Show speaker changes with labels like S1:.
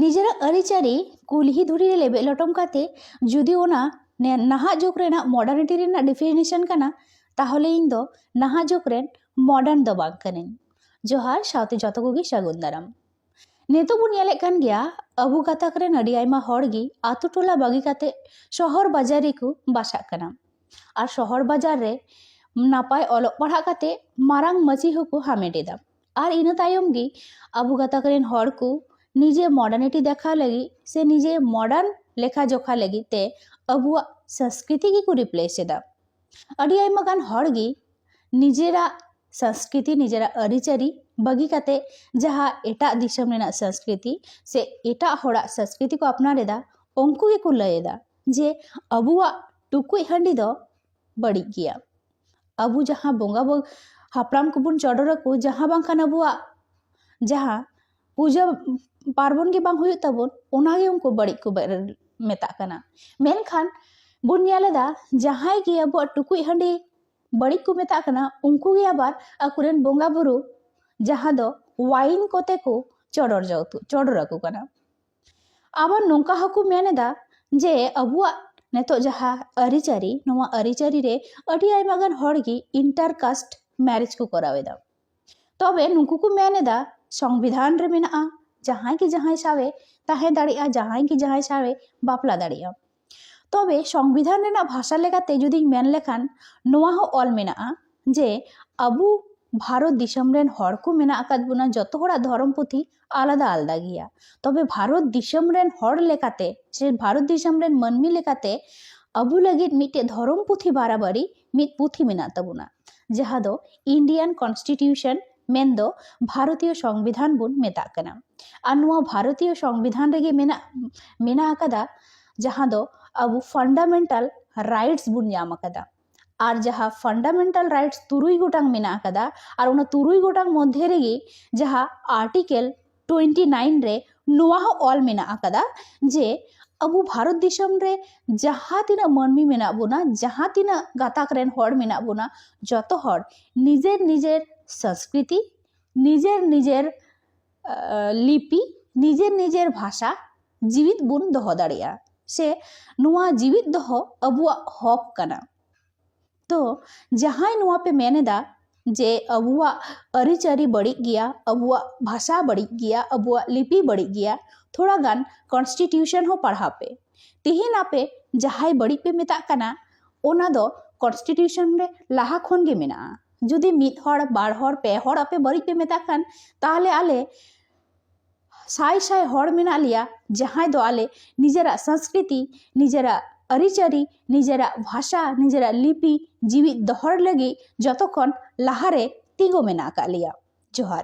S1: ᱱᱤᱡᱮᱨᱟᱜ ᱟᱹᱨᱤᱪᱟᱹᱞᱤ ᱠᱩᱞᱦᱤ ᱫᱷᱩᱲᱤ ᱨᱮ ᱞᱮᱵᱮᱫ ᱞᱚᱴᱚᱢ ᱠᱟᱛᱮ ᱡᱩᱫᱤ ᱚᱱᱟ ᱱᱟᱦᱟᱜ ᱡᱩᱜᱽ ᱨᱮᱱᱟᱜ ᱢᱚᱰᱟᱨᱱᱤᱴᱤ ᱨᱮᱱᱟᱜ ᱰᱤᱯᱷᱤᱱᱮᱥᱚᱱ ᱠᱟᱱᱟ ᱛᱟᱦᱚᱞᱮ ᱤᱧ ᱫᱚ ᱱᱟᱦᱟᱜ ᱡᱩᱜᱽ ᱨᱮᱱ ᱢᱚᱰᱟᱨᱱ ᱫᱚ ᱵᱟᱝ ᱠᱟᱹᱱᱟᱹᱧ ᱡᱚᱦᱟᱨ ᱥᱟᱶᱛᱮ ᱡᱚᱛᱚ ᱠᱚᱜᱮ ᱥᱟᱹᱜᱩᱱ ᱫᱟᱨᱟᱢ ᱱᱤᱛᱚᱜ ᱵᱚᱱ ᱧᱮᱞᱮᱫ ᱠᱟᱱ ᱜᱮᱭᱟ ᱟᱵᱚ ᱜᱟᱛᱟᱠ ᱨᱮᱱ ᱟᱹᱰᱤ ᱟᱭᱢᱟ ᱦᱚᱲ ᱜᱮ ᱟᱛᱳ ᱴᱚᱞᱟ ᱵᱟᱹᱜᱤ ᱠᱟᱛᱮ ᱥᱚᱦᱚᱨ ᱵᱟᱡᱟᱨ ᱨᱮᱠᱚ ᱵᱟᱥᱟᱜ ᱠᱟᱱᱟ ᱟᱨ ᱥᱚᱦᱚᱨ ᱵᱟᱡᱟᱨ ᱨᱮ ᱱᱟᱯᱟᱭ ᱚᱞᱚᱜ ᱯᱟᱲᱦᱟᱜ ᱠᱟᱛᱮ ᱢᱟᱨᱟᱝ ᱢᱟᱹᱪᱤ ᱦᱚᱸᱠᱚ ᱦᱟᱢᱮᱴ ᱮᱫᱟ ᱟᱨ ᱤᱱᱟᱹ ᱛᱟᱭᱚᱢ ᱜᱮ ᱟᱵᱚ ᱜᱟᱛᱟᱠ ᱨᱮᱱ ᱦᱚᱲ ᱠᱚ ᱱᱤᱡᱮ ᱢᱚᱰᱟᱨᱱᱤᱴᱤ ᱫᱮᱠᱷᱟᱣ ᱞᱟᱹᱜᱤᱫ ᱥᱮ ᱱᱤᱡᱮ ᱢᱚᱰᱟᱨᱱ ᱞᱮᱠᱷᱟ ᱡᱚᱠᱷᱟ ᱞᱟᱹᱜᱤᱫ ᱛᱮ ᱟᱵᱚᱣᱟᱜ ᱥᱚᱝᱥᱠᱨᱤᱛᱤ ᱜᱮᱠᱚ ᱨᱤᱯᱞᱮᱥ ᱮᱫᱟ ᱟᱹᱰᱤ ᱟᱭᱢᱟ ᱜᱟᱱ ᱦᱚᱲ ᱜᱮ ᱱᱤᱡᱮᱨᱟᱜ ᱥᱚᱝᱥᱠᱨᱤᱛᱤ ᱱᱤᱡᱮᱨᱟᱜ ᱟᱹᱨᱤᱪᱟᱹᱞᱤ ᱵᱟᱹᱜᱤ ᱠᱟᱛᱮ ᱡᱟᱦᱟᱸ ᱮᱴᱟᱜ ᱫᱤᱥᱚᱢ ᱨᱮᱱᱟᱜ ᱥᱚᱝᱥᱠᱨᱤᱛᱤ ᱥᱮ ᱮᱴᱟᱜ ᱦᱚᱲᱟᱜ ᱥᱚᱝᱥᱠᱨᱤᱛᱤ ᱠᱚ ᱟᱯᱱᱟᱨ ᱮᱫᱟ ᱩᱱᱠᱩ ᱜᱮᱠᱚ ᱞᱟᱹᱭ ᱮᱫᱟ ᱡᱮ ᱟᱵᱚᱣᱟᱜ ᱴᱩᱠᱩᱡ ᱦᱟᱺᱰᱤ ᱫᱚ ᱵᱟᱹᱲᱤᱡ ᱜᱮᱭᱟ ᱟᱵᱚ ᱡᱟᱦᱟᱸ ᱵᱚᱸᱜᱟ ᱵᱚᱱ ᱦᱟᱯᱲᱟᱢ ᱠᱚᱵᱚᱱ ᱪᱚᱰᱚᱨ ᱟᱠᱚ ᱡᱟᱦᱟᱸ ᱵᱟᱝᱠᱷᱟᱱ ᱟᱵᱚᱣᱟᱜ ᱡᱟᱦᱟᱸ ᱯᱩᱡᱟᱹ ᱯᱟᱨᱵᱚᱱ ᱜᱮ ᱵᱟᱝ ᱦᱩᱭᱩᱜ ᱛᱟᱵᱚᱱ ᱚᱱᱟᱜᱮ ᱩᱱᱠᱩ ᱵᱟᱹᱲᱤᱡ ᱠᱚ ᱢᱮᱛᱟᱜ ᱠᱟᱱᱟ ᱢᱮᱱᱠᱷᱟᱱ ᱵᱚᱱ ᱧᱮᱞ ᱮᱫᱟ ᱡᱟᱦᱟᱸᱭ ᱜᱮ ᱟᱵᱚᱣᱟᱜ ᱴᱩᱠᱩᱡ ᱦᱟᱺᱰᱤ ᱵᱟᱹᱲᱤᱡ ᱠᱚ ᱢᱮᱛᱟᱜ ᱠᱟᱱᱟ ᱩᱱᱠᱩ ᱜᱮ ᱟᱵᱟᱨ ᱟᱠᱚᱨᱮᱱ ᱵᱚᱸᱜᱟᱼᱵᱩᱨᱩ ᱡᱟᱦᱟᱸ ᱫᱚ ᱳᱣᱟᱭᱤᱱ ᱠᱚᱛᱮ ᱠᱚ ᱪᱚᱰᱚᱨ ᱪᱚᱰᱚᱨ ᱟᱠᱚ ᱠᱟᱱᱟ ᱟᱵᱟᱨ ᱱᱚᱝᱠᱟ ᱦᱚᱸᱠᱚ ᱢᱮᱱ ᱮᱫᱟ ᱡᱮ ᱟᱵᱚᱣᱟᱜ ᱱᱤᱛᱚᱜ ᱡᱟᱦᱟᱸ ᱟᱹᱨᱤᱪᱟᱹᱞᱤ ᱱᱚᱣᱟ ᱟᱹᱨᱤᱪᱟᱹᱞᱤ ᱨᱮ ᱟᱹᱰᱤ ᱟᱭᱢᱟ ᱜᱟᱱ ᱦᱚᱲ ᱜᱮ ᱤᱱᱴᱟᱨ ᱠᱟᱥᱴ ᱢᱮᱨᱮᱡᱽ ᱠᱚ ᱠᱚᱨᱟᱣ ᱮᱫᱟ ᱛᱚᱵᱮ ᱱᱩᱠᱩ ᱠᱚ ᱢᱮᱱ ᱮᱫᱟ ᱥᱚᱝᱵᱤᱫᱷᱟᱱ ᱨᱮ ᱢᱮᱱᱟᱜᱼᱟ ᱡᱟᱦᱟᱸᱭ ᱜᱮ ᱡᱟᱦᱟᱸᱭ ᱥᱟᱶᱮ ᱛᱟᱦᱮᱸ ᱫᱟᱲᱮᱭᱟᱜᱼᱟ ᱡᱟᱦᱟᱸᱭ ᱜᱮ ᱡᱟᱦᱟᱸᱭ ᱥᱟᱶᱮ ᱵᱟᱯᱞᱟ ᱫᱟᱲᱮᱭᱟᱜᱼᱟ ᱛᱚᱵᱮ ᱥᱚᱝᱵᱤᱫᱷᱟᱱ ᱨᱮᱱᱟᱜ ᱵᱷᱟᱥᱟ ᱞᱮᱠᱟᱛᱮ ᱡᱩᱫᱤᱧ ᱢᱮᱱ ᱞᱮᱠᱷᱟᱱ ᱱᱚᱣᱟ ᱦᱚᱸ ᱚᱞ ᱢᱮᱱᱟᱜᱼᱟ ᱡᱮ ᱟᱵᱚ ᱵᱷᱟᱨᱚᱛ ᱫᱤᱥᱚᱢ ᱨᱮᱱ ᱦᱚᱲ ᱠᱚ ᱢᱮᱱᱟᱜ ᱟᱠᱟᱫ ᱵᱚᱱᱟ ᱡᱚᱛᱚ ᱦᱚᱲᱟᱜ ᱫᱷᱚᱨᱚᱢ ᱯᱩᱛᱷᱤ ᱟᱞᱟᱫᱟ ᱟᱞᱟᱫᱟ ᱜᱮᱭᱟ ᱛᱚᱵᱮ ᱵᱷᱟᱨᱚᱛ ᱫᱤᱥᱚᱢ ᱨᱮᱱ ᱦᱚᱲ ᱞᱮᱠᱟᱛᱮ ᱥᱮ ᱵᱷᱟᱨᱚᱛ ᱫᱤᱥᱚᱢ ᱨᱮᱱ ᱢᱟᱹᱱᱢᱤ ᱞᱮᱠᱟᱛᱮ ᱟᱵᱚ ᱞᱟᱹᱜᱤᱫ ᱢᱤᱫᱴᱮᱡ ᱫᱷᱚᱨᱚᱢ ᱯᱩᱛᱷᱤ ᱵᱟᱨᱟᱵᱟᱨᱤ ᱢᱤᱫ ᱯᱩᱛᱷᱤ ᱢᱮᱱᱟᱜ ᱛᱟᱵᱚᱱᱟ ᱡᱟᱦᱟᱸ ᱫᱚ ᱤᱱᱰᱤᱭᱟᱱ ᱠᱚᱱᱥᱴᱤᱴᱤᱭᱩᱥᱚᱱ ᱢᱮᱱ ᱫᱚ ᱵᱷᱟᱨᱚᱛᱤᱭᱚ ᱥᱚᱝᱵᱤᱫᱷᱟᱱ ᱵᱚᱱ ᱢᱮᱛᱟᱜ ᱠᱟᱱᱟ ᱟᱨ ᱱᱚᱣᱟ ᱵᱷᱟᱨᱚᱛᱤᱭᱚ ᱥᱚᱝᱵᱤᱫᱷᱟᱱ ᱨᱮᱜᱮ ᱢᱮᱱᱟᱜ ᱢᱮᱱᱟᱜ ᱟᱠᱟᱫᱟ ᱡᱟᱦᱟᱸ ᱫᱚ ᱟᱵᱚ ᱯᱷᱟᱱᱰᱟᱢᱮᱱᱴᱟᱞ ᱨᱟᱭᱤᱴᱥ ᱵᱚᱱ ᱧᱟᱢ ᱟᱠᱟᱫᱟ ᱟᱨ ᱡᱟᱦᱟᱸ ᱯᱷᱟᱱᱰᱟᱢᱮᱱᱴᱟᱞ ᱨᱟᱭᱤᱴᱥ ᱛᱩᱨᱩᱭ ᱜᱚᱴᱟᱝ ᱢᱮᱱᱟᱜ ᱟᱠᱟᱫᱟ ᱟᱨ ᱚᱱᱟ ᱛᱩᱨᱩᱭ ᱜᱚᱴᱟᱝ ᱢᱚᱫᱽᱫᱷᱮ ᱨᱮᱜᱮ ᱡᱟᱦᱟᱸ ᱟᱨᱴᱤᱠᱮᱞ ᱴᱩᱭᱮᱱᱴᱤ ᱱᱟᱭᱤᱱ ᱨᱮ ᱱᱚᱣᱟ ᱦᱚᱸ ᱚᱞ ᱢᱮᱱᱟᱜ ᱟᱠᱟᱫᱟ ᱡᱮ ᱟᱵᱚ ᱵᱷᱟᱨᱚᱛ ᱫᱤᱥᱚᱢ ᱨᱮ ᱡᱟᱦᱟᱸ ᱛᱤᱱᱟᱹᱜ ᱢᱟᱹᱱᱢᱤ ᱢᱮᱱᱟᱜ ᱵᱚᱱᱟ ᱡᱟᱦᱟᱸ ᱛᱤᱱᱟᱹᱜ ᱜᱟᱛᱟᱠ ᱨᱮᱱ ᱦᱚᱲ ᱢᱮᱱᱟᱜ ᱵᱚᱱᱟ ᱡᱚᱛᱚ ᱦᱚᱲ ᱱᱤᱡᱮᱨ ᱱᱤᱡᱮᱨ ᱥᱚᱥᱠᱨᱤᱛᱤ ᱱᱤᱡᱮᱨ ᱱᱤᱡᱮᱨ ᱞᱤᱯᱤ ᱱᱤᱡᱮᱨ ᱱᱤᱡᱮᱨ ᱵᱷᱟᱥᱟ ᱡᱤᱣᱤᱫ ᱵᱚᱱ ᱫᱚᱦᱚ ᱫᱟᱲᱮᱭᱟᱜᱼᱟ ᱥᱮ ᱱᱚᱣᱟ ᱡᱤᱣᱤᱫ ᱫᱚᱦᱚ ᱟᱵᱚᱣᱟᱜ ᱦᱚᱠ ᱠᱟᱱᱟ ᱛᱚ ᱡᱟᱦᱟᱸᱭ ᱱᱚᱣᱟ ᱯᱮ ᱢᱮᱱ ᱮᱫᱟ ᱡᱮ ᱟᱵᱚᱣᱟᱜ ᱟᱹᱨᱤᱪᱟᱹᱞᱤ ᱵᱟᱹᱲᱤᱡ ᱜᱮᱭᱟ ᱟᱵᱚᱣᱟᱜ ᱵᱷᱟᱥᱟ ᱵᱟᱹᱲᱤᱡ ᱜᱮᱭᱟ ᱟᱵᱚᱣᱟᱜ ᱞᱤᱯᱤ ᱵᱟᱹᱲᱤᱡ ᱜᱮᱭᱟ ᱛᱷᱚᱲᱟ ᱜᱟᱱ ᱠᱚᱱᱥᱴᱤᱴᱤᱭᱩᱥᱚᱱ ᱦᱚᱸ ᱯᱟᱲᱦᱟᱣ ᱯᱮ ᱛᱮᱦᱮᱧ ᱟᱯᱮ ᱡᱟᱦᱟᱸᱭ ᱵᱟᱹᱲᱤᱡ ᱯᱮ ᱢᱮᱛᱟᱜ ᱠᱟᱱᱟ ᱚᱱᱟ ᱫᱚ ᱠᱚᱱᱥᱴᱤᱴᱤᱭᱩᱥᱚᱱ ᱨᱮ ᱞᱟᱦᱟ ᱠᱷᱚᱱ ᱜᱮ ᱢᱮᱱᱟᱜᱼᱟ ᱡᱩᱫᱤ ᱢᱤᱫ ᱦᱚᱲ ᱵᱟᱨ ᱦᱚᱲ ᱯᱮ ᱦᱚᱲ ᱟᱯᱮ ᱵᱟᱹᱲᱤᱡ ᱯᱮ ᱢᱮᱛᱟᱜ ᱠᱷᱟᱱ ᱛᱟᱦᱚᱞᱮ ᱟᱞᱮ ᱥᱟᱭ ᱥᱟᱭ ᱦᱚᱲ ᱢᱮᱱᱟᱜ ᱞᱮᱭᱟ ᱡᱟᱦᱟᱸᱭ ᱫᱚ ᱟᱞᱮ ᱱᱤᱡᱮᱨᱟᱜ ᱥᱚᱝᱥᱠᱨᱤᱛᱤ ᱱᱤᱡᱮᱨᱟᱜ ᱟᱹᱨᱤᱪᱟᱹᱞᱤ ᱱᱤᱡᱮᱨᱟᱜ ᱵᱷᱟᱥᱟ ᱱᱤᱡᱮᱨᱟᱜ ᱞᱤᱯᱤ ᱡᱤᱣᱤᱫ ᱫᱚᱦᱚ ᱞᱟᱹᱜᱤᱫ ᱡᱚᱛᱚ ᱠᱷᱚᱱ ᱞᱟᱦᱟᱨᱮ ᱛᱤᱸᱜᱩ ᱢᱮᱱᱟᱜ ᱟᱠᱟᱫ ᱞᱮᱭᱟ ᱡᱚᱦᱟᱨ